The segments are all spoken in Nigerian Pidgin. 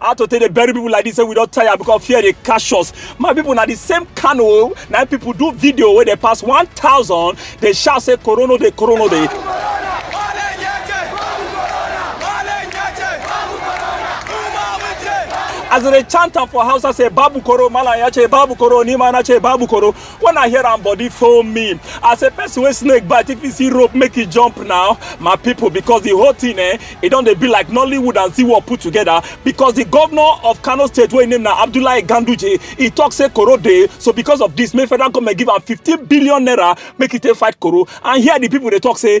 how to take dey bury people like this say we don tire because fear dey catch us my people na the same kano na people do video wey dey pass one thousand dey shout say corona dey corona dey. as they chant am for hausa say babu koro malam ya ce babu koro ni ma na ce babu koro when i hear am body foam me as a person wey snake bite if you see rope make e jump now my people because the whole thing eh e don dey be like nollywood and ziwo put together because the governor of kano state wey im name na abdullahi ganduje e talk say koro dey so because of this make federal government give am fifteen billion naira make e take fight koro and here the people dey talk say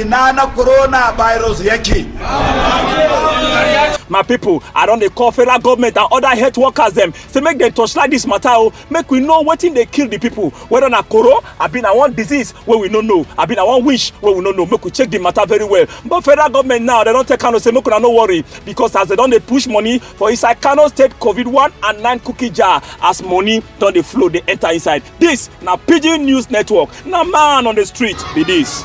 ina na coronavirus yake my pipo i don dey call federal government and oda health workers dem say make dem torchlight dis mata o make we know wetin dey kill di pipo weda na koro abi na one disease wey we no know abi na one wish wey we no know make we check di mata very well but federal government now dem don tell kano say make una no worry because as dem don dey push money for inside kano state covid one and nine cookie jar as money don dey flow dey enter inside This na Pidgin News Network, na man on the street be this.